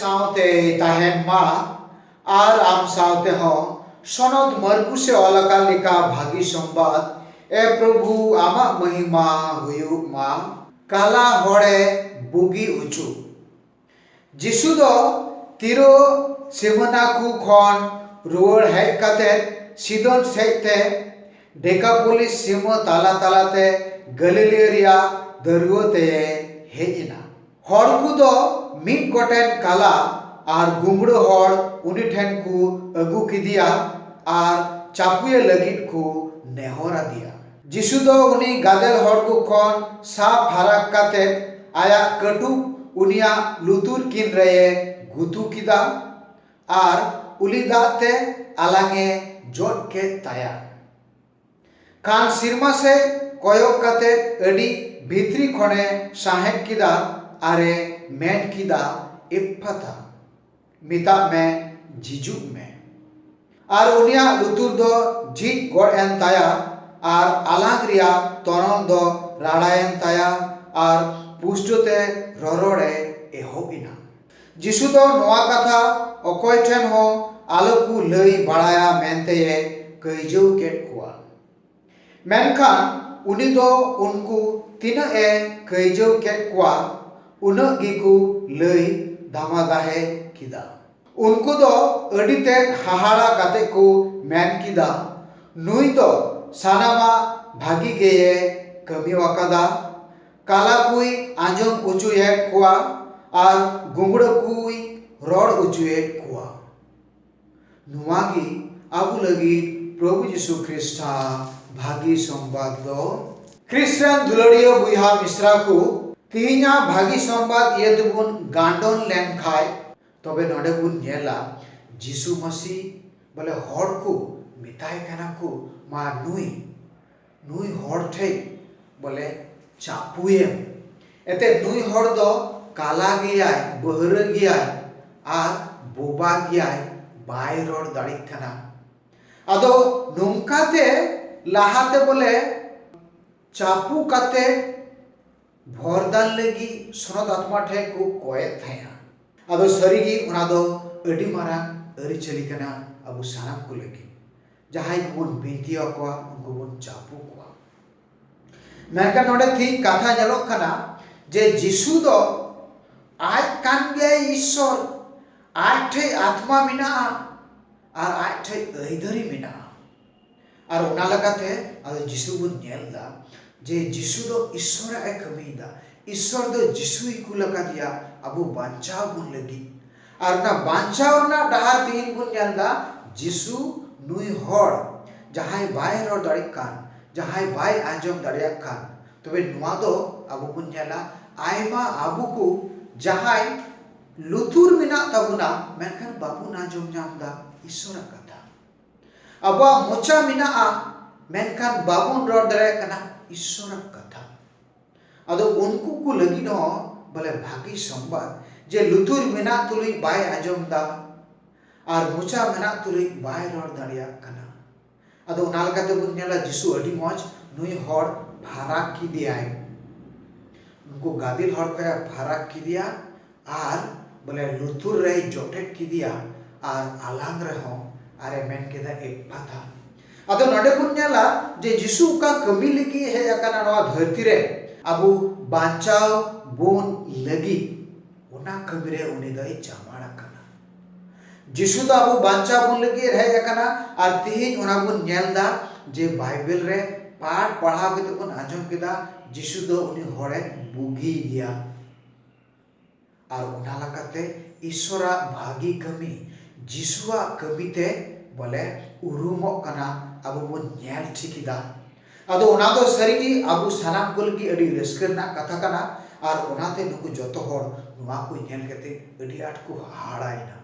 ᱥᱟᱶᱛᱮ ᱛᱟᱦᱮᱱ ᱢᱟ ᱟᱨ ᱟᱢ ᱥᱟᱶᱛᱮ ᱦᱚᱸ ᱥᱚᱱᱚᱫ ᱢᱟᱨᱠᱩᱥ ᱮ ᱚᱞ ᱟᱠᱟᱫ ᱞᱮᱠᱟ ᱵᱷᱟᱹᱜᱤ ᱥᱚᱢᱵᱟᱫ ᱮ ᱯᱨᱚᱵᱷᱩ ᱟᱢᱟᱜ ᱢᱚᱦᱤᱢᱟ ᱦᱩᱭᱩᱜ ᱢᱟ ᱠᱟᱞᱟ ᱦᱚᱲᱮ ᱵᱩᱜᱤ ᱦᱚᱪᱚ ᱡᱤᱥᱩ ᱫᱚ ᱛᱤᱨᱳ ᱥᱤᱵᱷᱚᱱᱟᱠᱷᱩ ᱠᱷᱚᱱ ᱨᱩᱣᱟᱹᱲ ᱦᱮᱡ ᱠᱟᱛᱮ ᱥᱤᱫᱚᱱ ᱥᱮᱡ ᱛᱮ ᱰᱮᱠᱟᱯᱳᱞᱤᱥ ᱥᱤᱢᱟᱹ ᱛᱟᱞᱟ ᱛᱟᱞᱟ ᱛᱮ ᱜᱟᱹᱞᱤᱞᱤᱭᱟᱹ ᱨᱮᱭᱟᱜ ᱫᱟᱹᱨᱣᱟᱹ ᱛᱮᱭᱮ ᱦᱮᱡ ᱮᱱᱟ᱾ ᱦᱚᱲ ᱠᱚ ᱫᱚ ᱢᱤᱫ ᱜᱚᱴᱮᱱ ᱠᱟᱞᱟ ᱟᱨ ᱜᱩᱢᱲᱟᱹ ᱦᱚᱲ ᱩᱱᱤ ᱴᱷᱮᱱ ᱠᱚ ᱟᱹᱜᱩ ᱠᱮᱫᱮᱭᱟ ᱟᱨ ᱪᱟᱯᱩᱭᱮ ᱞᱟᱹᱜᱤᱫ ᱠᱚ ᱱᱮᱦᱚᱨ ᱟᱫᱮᱭᱟ᱾ ᱡᱤᱥᱩ ᱫᱚ ᱩᱱᱤ ᱜᱟᱫᱮᱞ ᱦᱚᱲ ᱠᱚ ᱠᱷᱚᱱ ᱥᱟᱵ ᱯᱷᱟᱨᱟᱠ ᱠᱟᱛᱮ ᱟᱭᱟᱜ ᱠᱟᱹᱴᱩᱵ ᱩᱱᱤᱭᱟᱜ ᱞᱩᱛᱩᱨ ᱠᱤᱱ ᱨᱮᱭᱮ ᱜᱩᱛᱩ ᱠᱮᱫᱟ ᱟᱨ ᱩᱞᱤ ᱫᱟᱜ ᱛᱮ ᱟᱞᱟᱝ ᱮ ᱡᱚᱫ ᱠᱮᱫ ᱛᱟᱭᱟ᱾ ᱠᱷᱟᱱ ᱥᱤᱨᱢᱟ ᱥᱮᱡ ᱠᱚᱭᱚᱜ ᱠᱟᱛᱮ ᱟᱹᱰᱤ ᱵᱷᱤᱛᱨᱤ ᱠᱷᱚᱱᱮ ᱥᱟᱸᱦᱮᱫ ᱠᱮᱫᱟ ᱟᱨᱮ ᱢᱮᱱ ᱠᱮᱫᱟ, ᱮᱯᱷᱯᱷᱟᱛᱟ᱾ ᱢᱮᱛᱟᱜ ᱢᱮ ᱡᱷᱤᱡᱩᱜ ᱢᱮ᱾ ᱟᱨ ᱩᱱᱤᱭᱟᱜ ᱞᱩᱛᱩᱨ ᱫᱚ ᱡᱷᱤᱡ ᱜᱚᱫ ᱮᱱ ᱛᱟᱭᱟ ᱟᱨ ᱟᱞᱟᱝ ᱨᱮᱭᱟᱜ ᱛᱚᱱᱚᱞ ᱫᱚ ᱨᱟᱲᱟ ᱮᱱ ᱛᱟᱭᱟ ᱟᱨ ᱯᱩᱥᱴᱟᱹ ᱛᱮ ᱨᱚᱨᱚᱲ ᱮ ᱮᱦᱚᱵ ᱮᱱᱟ᱾ ᱡᱤᱥᱩ ᱫᱚ ᱱᱚᱶᱟ ᱠᱟᱛᱷᱟ ᱚᱠᱚᱭ ᱴᱷᱮᱱ ᱦᱚᱸ ᱟᱞᱚ ᱠᱚ ᱞᱟᱹᱭ ᱵᱟᱲᱟᱭᱟ ᱢᱮᱱᱛᱮ ᱮ ᱠᱟᱹᱭᱡᱟᱹᱣ ᱠᱮᱫ ᱠᱚᱣᱟ᱾ ᱢᱮᱱᱠᱷᱟᱱ ᱩᱱᱤ ᱫᱚ ᱩᱱᱠᱩ ᱛᱤᱱᱟᱹᱜ ᱮ ᱠᱟᱹᱭᱡᱟᱹᱣ ᱠᱮᱫ ᱠᱚᱣᱟ ᱩᱱᱟᱹᱜ ᱜᱮᱠᱚ ᱞᱟᱹᱭ ᱫᱷᱟᱢᱟᱫᱟᱦᱮ ᱠᱮᱫᱟ᱾ ᱩᱱᱠᱩ ᱫᱚ ᱟᱹᱰᱤ ᱛᱮᱫ ᱦᱟᱦᱟᱲᱟ ᱠᱟᱛᱮ ᱠᱚ ᱢᱮᱱ ᱠᱮᱫᱟ, ᱱᱩᱭ ᱫᱚ ᱥᱟᱱᱟᱢᱟᱜ ᱵᱷᱟᱹᱜᱤ ᱜᱮᱭᱮ ᱠᱟᱹᱢᱤ ᱟᱠᱟᱫᱟ᱾ ᱠᱟᱞᱟ ᱠᱚᱭ ᱟᱸᱡᱚᱢ ᱚᱪᱚᱭᱮᱫ ᱠᱚᱣᱟ ᱟᱨ ᱜᱩᱸᱜᱽᱲᱟᱹ ᱠᱚᱭ ᱨᱚᱲ ᱚᱪᱚᱭᱮᱫ ᱠᱚᱣᱟ᱾ ᱱᱚᱣᱟ ᱜᱮ ᱟᱵᱚ ᱞᱟᱹᱜᱤᱫ ᱯᱨᱚᱵᱷᱩ ᱡᱤᱥᱩ ᱠᱷᱨᱤᱥᱴᱟᱜ ᱵᱷᱟᱹᱜᱤ ᱥᱚᱢᱵᱟᱫ ᱫᱚ᱾ ᱠᱷᱨᱤᱥᱴ ᱨᱮᱱ ᱫᱩᱞᱟᱹᱲᱤᱭᱟᱹ ᱵᱚᱭᱦᱟ ᱢᱤᱥᱨᱟ ᱠᱚ, ᱛᱤᱦᱤᱧᱟᱜ ᱵᱷᱟᱹᱜᱤ ᱥᱚᱢᱵᱟᱫ ᱤᱭᱟᱹ ᱛᱮᱵᱚᱱ ᱜᱟᱱᱰᱚᱱ ᱞᱮᱱ ᱠᱷᱟᱡ ᱛᱚᱵᱮ ᱱᱚᱰᱮ ᱵᱚᱱ ᱧᱮᱞᱟ ᱡᱤᱥᱩ ᱢᱟᱹᱥᱤ ᱵᱚᱞᱮ ᱦᱚᱲ ᱠᱚ ᱢᱮᱛᱟᱭ ᱠᱟᱱᱟ ᱠᱚ ᱢᱟ ᱱᱩᱭ᱾ ᱱᱩᱭ ᱦᱚᱲ ᱴᱷᱮᱡ ᱵᱚᱞᱮ ᱪᱟᱯᱩᱭᱮᱢ ᱮᱱᱛᱮᱫ ᱱᱩᱭ ᱦᱚᱲ ᱫᱚ ᱠᱟᱞᱟ ᱜᱮᱭᱟᱭ ᱵᱟᱹᱦᱨᱟᱹ ᱜᱮᱭᱟᱭ ᱟᱨ ᱵᱳᱵᱟ ᱜᱮᱭᱟᱭ ᱵᱟᱭ ᱨᱚᱲ ᱫᱟᱲᱮᱜ ᱠᱟᱱᱟ ᱟᱫᱚ ᱱᱚᱝᱠᱟ ᱛᱮ ᱞᱟᱦᱟᱛᱮ ᱵᱚᱞᱮ ᱪᱟᱯᱩ ᱠᱟᱛᱮ ᱵᱷᱚᱨᱫᱟᱱ ᱞᱟᱹᱜᱤᱫ ᱥᱚᱱᱚᱛ ᱟᱛᱢᱟ ᱴᱷᱮᱡ ᱠᱚ ᱠᱚᱭᱮᱫ ᱛᱟᱦᱮᱸᱜᱼᱟ ᱟᱫᱚ ᱥᱟᱹᱨᱤᱜᱮ ᱚᱱᱟ ᱫᱚ ᱟᱹᱰᱤ ᱢᱟᱨᱟᱝ ᱟᱹᱨᱤᱪᱟᱹᱞᱤ ᱠᱟᱱᱟ ᱟᱵᱚ ᱥᱟᱱᱟᱢ ᱠᱚ ᱞᱟᱹᱜᱤᱫ ᱡᱟᱦᱟᱸᱭ ᱠᱚᱵᱚᱱ ᱵᱤᱱᱛᱤ ᱟᱠᱚᱣᱟ ᱩᱱᱠᱩ ᱵᱚᱱ ᱪᱟᱯᱚ ᱠᱚᱣᱟ ᱢᱮᱱᱠᱷᱟᱱ ᱱᱚᱰᱮ ᱛᱮᱦᱤᱧ ᱠᱟᱛᱷᱟ ᱧᱮᱞᱚᱜ ᱠᱟᱱᱟ ᱡᱮ ᱡᱤᱥᱩ ᱫᱚ ᱟᱡ ᱠᱟᱱ ᱜᱮᱭᱟᱭ ᱤᱥᱥᱚᱨ ᱟᱡ ᱴᱷᱮᱡ ᱟᱛᱢᱟ ᱢᱮᱱᱟᱜᱼᱟ ᱟᱨ ᱟᱡ ᱴᱷᱮᱡ ᱟᱹᱭᱫᱟᱹᱨᱤ ᱢᱮᱱᱟᱜᱼᱟ ᱟᱨ ᱚᱱᱟ ᱞᱮᱠᱟᱛᱮ ᱟᱫᱚ ᱡᱤᱥᱩ ᱵᱚᱱ ᱧᱮᱞ ᱮᱫᱟ ᱡᱮ ᱡᱤᱥᱩ ᱫᱚ ᱤᱥᱥᱚᱨᱟᱜ ᱮ ᱠᱟᱹᱢᱤᱭᱮᱫᱟ ᱤᱥᱥᱚᱨ ᱫᱚ ᱡᱤᱥᱩᱭ ᱠᱩᱞ ᱟᱠᱟᱫᱮᱭᱟ ᱟᱵᱚ ᱵᱟᱧᱪᱟᱣ ᱵᱚᱱ ᱞᱟᱹᱜᱤᱫ ᱟᱨ ᱚᱱᱟ ᱵᱟᱧᱪᱟᱣ ᱨᱮᱱᱟᱜ ᱰᱟᱦᱟᱨ ᱛᱮᱦᱮᱧ ᱵᱚᱱ ᱧᱮᱞ ᱮᱫᱟ ᱡᱤᱥᱩ ᱱᱩᱭ ᱦᱚᱲ ᱡᱟᱦᱟᱸᱭ ᱵᱟᱭ ᱨᱚᱲ ᱫᱟᱲᱮᱭᱟᱜ ᱠᱟᱱ ᱡᱟᱦᱟᱸᱭ ᱵᱟᱭ ᱟᱸᱡᱚᱢ ᱫᱟᱲᱮᱭᱟᱜ ᱠᱟᱱ ᱛᱚᱵᱮ ᱱᱚᱶᱟ ᱫᱚ ᱟᱵᱚ ᱵᱚᱱ ᱧᱮᱞᱟ ᱟᱭᱢᱟ ᱟᱵᱚ ᱠᱚ ᱡᱟᱦᱟᱸᱭ ᱞᱩᱛᱩᱨ ᱢᱮᱱᱟᱜ ᱛᱟᱵᱚᱱᱟ ᱢᱮᱱᱠᱷᱟᱱ ᱵᱟᱵᱚᱱ ᱟᱸᱡᱚᱢ ᱧᱟᱢ ᱮᱫᱟ ᱤᱥᱥᱚᱨᱟᱜ ᱠᱟᱛᱷᱟ ᱟᱵᱚᱣᱟᱜ ᱢᱚᱪᱟ ᱢᱮᱱᱟᱜᱼᱟ ᱢᱮᱱᱠᱷᱟᱱ ᱵᱟᱵᱚᱱ ᱨᱚᱲ ᱫᱟᱲᱮᱭᱟᱜ ᱠᱟᱱᱟ ᱤᱥᱥᱚᱨᱟᱜ ᱠᱟᱛᱷᱟ ᱟᱫᱚ ᱩᱱᱠᱩ ᱠᱚ ᱞᱟᱹᱜᱤᱫ ᱦᱚᱸ ᱵᱚᱞᱮ ᱵᱷᱟᱹᱜᱤ ᱥᱚᱝᱵᱟᱫ ᱡᱮ ᱞᱩᱛᱩᱨ ᱢᱮᱱᱟᱜ ᱛᱩᱞᱩᱡ ᱵᱟᱭ ᱟᱸᱡᱚᱢ ᱮᱫᱟ ᱟᱨ ᱢᱚᱪᱟ ᱢᱮᱱᱟᱜ ᱛᱩᱞᱩᱡ ᱵᱟᱭ ᱨᱚᱲ ᱫᱟᱲᱮᱭᱟᱜ ᱠᱟᱱᱟ ᱟᱫᱚ ᱚᱱᱟ ᱞᱮᱠᱟ ᱛᱮᱵᱚᱱ ᱧᱮᱞᱟ ᱡᱤᱥᱩ ᱟᱹᱰᱤ ᱢᱚᱡᱽ ᱱᱩᱭ ᱦᱚᱲ ᱯᱷᱟᱨᱟᱠ ᱠᱮᱫᱮᱭᱟᱭ ᱩᱱᱠᱩ ᱜᱟᱫᱮᱞ ᱦᱚᱲ ᱠᱷᱚᱱᱮ ᱯᱷᱟᱨᱟᱠ ᱠᱮᱫᱮᱭᱟ ᱟᱨ ᱵᱚᱞᱮ ᱞᱩᱛᱩᱨ ᱨᱮᱭ ᱡᱚᱴᱮᱫ ᱠᱮᱫᱮᱭᱟ ᱟᱨ ᱟᱞᱟᱝ ᱨᱮᱦᱚᱸ ᱟᱨᱮ ᱢᱮᱱ ᱠᱮᱫᱟ ᱮᱯᱷᱯᱷᱟᱛᱷᱟ ᱟᱫᱚ ᱱᱚᱰᱮ ᱵᱚᱱ ᱧᱮᱞᱟ ᱡᱮ ᱡᱤᱥᱩ ᱚᱠᱟ ᱠᱟᱹᱢᱤ ᱞᱟᱹᱜᱤᱫ ᱮ ᱦᱮᱡ ᱟᱠᱟᱱᱟ ᱱᱚᱣᱟ ᱫᱷᱟᱹᱨᱛᱤ ᱨᱮ ᱟᱵᱚ ᱵᱟᱧᱪᱟᱣ ᱵᱚᱱ ᱞᱟᱹᱜᱤᱫ ᱚᱱᱟ ᱠᱟᱹᱢᱤ ᱨᱮ ᱩᱱᱤ ᱫᱚᱭ ᱪᱟᱢᱟᱲ ᱟᱠᱟᱱᱟ ᱡᱤᱥᱩ ᱫᱚ ᱟᱵᱚ ᱵᱟᱧᱪᱟᱣ ᱵᱚᱱ ᱞᱟᱹᱜᱤᱫ ᱮ ᱦᱮᱡ ᱟᱠᱟᱱᱟ ᱟᱨ ᱛᱤᱦᱤᱧ ᱚᱱᱟ ᱵᱚᱱ ᱧᱮᱞ ᱮᱫᱟ ᱡᱮ ᱵᱟᱭᱵᱮᱞ ᱨᱮ ᱯᱟᱴ ᱯᱟᱲᱦᱟᱣ ᱠᱟᱛᱮ ᱵᱚᱱ ᱟᱸᱡᱚᱢ ᱠᱮᱫᱟ ᱡᱤᱥᱩ ᱫᱚ ᱩᱱᱤ ᱦᱚᱲᱮ ᱵᱩᱜᱤ ᱜᱮᱭᱟ ᱟᱨ ᱚᱱᱟ ᱞᱮᱠᱟᱛᱮ ᱤᱥᱥᱚᱨᱟᱜ ᱵᱷᱟᱹᱜᱤ ᱠᱟᱹᱢᱤ ᱡᱤᱥᱩᱣᱟᱜ ᱠᱟᱹᱢᱤ ᱛᱮ ᱵᱚᱞᱮ ᱩᱨᱩᱢᱚᱜ ᱠᱟᱱᱟ ᱟᱵᱚ ᱵᱚᱱ ᱧᱮᱞ ᱴᱷᱤᱠ ᱮᱫᱟ ᱟᱫᱚ ᱚᱱᱟ ᱫᱚ ᱥᱟᱹᱨᱤ ᱜᱮ ᱟᱵᱚ ᱥᱟᱱᱟᱢ ᱠᱚ ᱞᱟᱹᱜᱤᱫ ᱟᱹᱰᱤ ᱨᱟᱹᱥᱠᱟᱹ ᱨᱮᱱᱟᱜ ᱠᱟᱛᱷᱟ ᱠᱟᱱᱟ ᱟᱨ ᱚᱱᱟᱛᱮ ᱱᱩᱠᱩ ᱡᱚᱛᱚ ᱦᱚᱲ ᱱᱚᱣᱟ ᱠᱚ ᱧᱮᱞ ᱠᱟᱛᱮᱫ ᱟᱹᱰᱤ ᱟᱸᱴ ᱠᱚ ᱦᱟᱦᱟᱲᱟᱭᱮᱱᱟ